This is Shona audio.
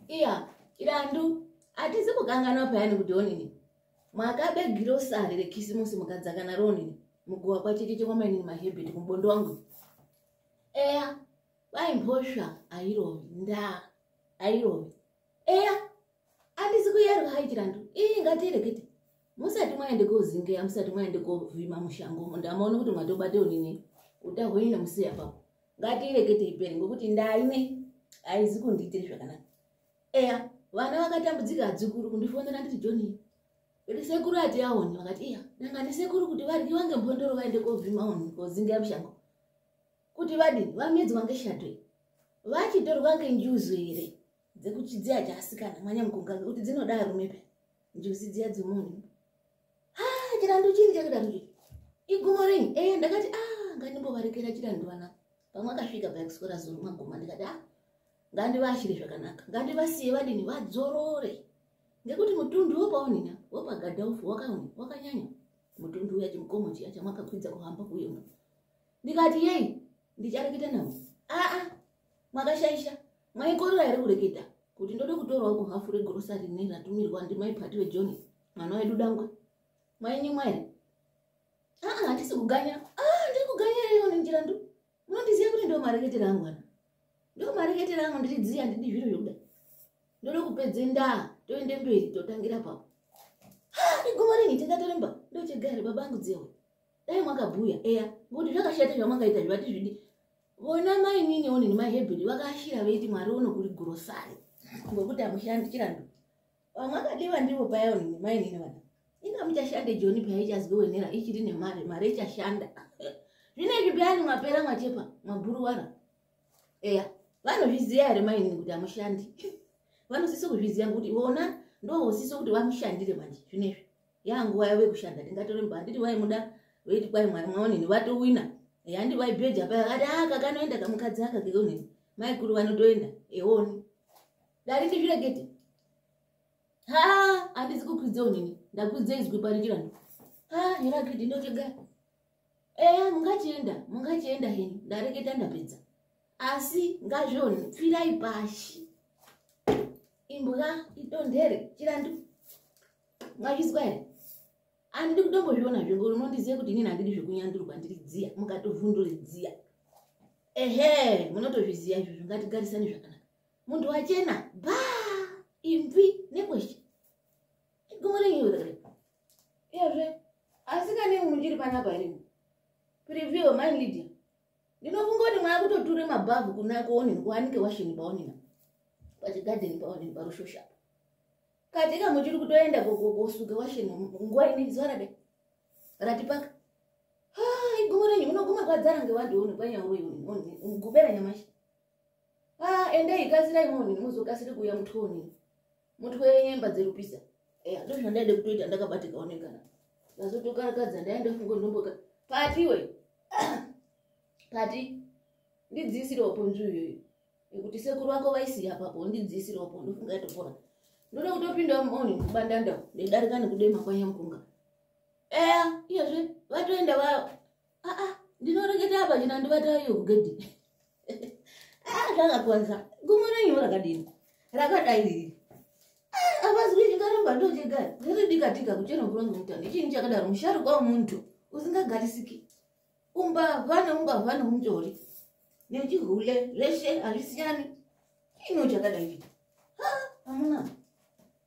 iya irandu hatisi kukanganwa payani kuti onini mwakabe girosari rekisimusi mukadzaka naro onini muguwa kwachecheche kwamainini mahebheti kumubondo wangu eya kwai mhosva airovi ndaa airovi eya handisi kuyerwa hai chirandu iyi ngatirekete musati mwaende kozingeya musati mwaende kovhima mushango ndamaona kuti mwatobate onini uta hwenyu nemuseya papo ngatiirekete iperi ngokuti ndaine haizi kundiitiri zvakanaka eya vana vakatambudzika adzukuru kundifonera nditi joni kuti sekuru ati aoni vakati iya nanga ndisekuru kuti vadyiwa ngembondoro vaende kovhima unhu kozinga mushango kuti vadini vamedzwa ngeshadwe vachitorwa ngenjuzu here dzekuchidziya chaasikana mwanyamukunga ngekuti dzinoda arume pe njuzi dziya dzemunhu ah, chirandu chiri chakirandu igumo rini e eh, ndakati a ah, ngandimbovarekera chirandu vana pamwe akasvika payakuswera zuru maguma ndikati a ah, ngandivashire zvakanaka ngandivasiye vadini vadzorore ngekuti mutundu wopaonina wopagadhaofu wakaoni wakanyanya mutundu uya chimukomo chiya chamwakakwidza kuhamba kuyo ndikati yei ndichareketa navo aa ah, makashaisha maikorera here kureketa kuti ndode kutorawo muhafu regrosari ne ratumirwa ndimai pati vejohn mwana wedu dangwe mainyimwa here aa ah, handisi kuganya aa ah, ndiri kuganya ireyo nenjira ndu munondiziva kuti ndo mareketera angu ana ndo mareketera angu ndiri dzii handidi zviro zvekuda ndode kupedze ndaa toende mberi totangira papo iguma ringi tingatoremba ndochegare baba angu dzewe dai mwakabhuya eya ngokuti zvakashata zvamwakaita zvivati zvidi vona mainini onini mahebheri vakaashira veiti mwari uno kuri gurosari ngokuti amushandi chirando vamwe akadeva ndivo paya onini mainini vana inga muchashande joni paya ichaziwenera ichiri nemari mari ichashanda zvine izvi peyani mwapera mwachepa mwaburuwara eya vanozviziva here mainini kuti amushandi vanosisa kuzviziva ngokuti vona ndovosisa kuti vamushandire manje zvine izvi yanguva yavo yekushanda tingatoremba handiti vaimuda veiti kwai mwari mwaonini vatowina handi vaibheja paya kati aka ah, kanoenda kamukadzi aka keonini maikuru vanotoenda eoni dai ndizvirekete ha handizi kukwidza onini ndakwidza izwi parichira ndo ha herakiti ndotega eya eh, mungachienda mungachienda heni ndareketa ndapedza asi ngazvioni pfirai pashi imbwa itondere chirandu ngazvizwa here andidi kutombozviona zve ngori unondizive kuti inini handidi zvekunyandurwa ndiri dziya mukatovhunduri dziya ehe munotozviziva izvozvo ngatigarisani zvakanaka munhu wachena ba imvi nekweshe igomo renyu rere iyezve asikane munhu chiri panapa here preview mine lidia ndinofunga kuti mwaya kutoture mabhavhu kunako onini kuwanike washini paonina pachigadheni paonini parushoshapo katika muchiri kutoenda kosuka washeni nguva inei zuva rade ratipaka igumo renyu munoguma kwadzara ngevanhu unu kwanyaurogubera nyamashi endei kasirai moni muzokasiri kuuya mutoni mutwe nyemba dzerupisa eya ndo zvandaide kutoita ndakabatika onekana ndazotokarakadza ndaenda fungo ndomboka pati iwe pati ndidzisirawo ponzwi iyoyo nekuti sekuru vako vaisiya papo ndidzisira upo ndofunga yatopora ndoda kutopinda moni kubandanda ndedarika nekudema kwanyamukunga eya iyezve vatoenda va aa ndinoreketa apa china ndivatayo kugedhi aa zvakakwanza gumo renyu rakadini rakadai riri avazwi chikaramba ndochigara zviridikatika kuchera mvura ngemutani chinyi chakadaro musharukwa wemuntu usingagarisiki umbavha neumbavha neunzori nechihule zveshe hazvisiyani ino chakadai amuna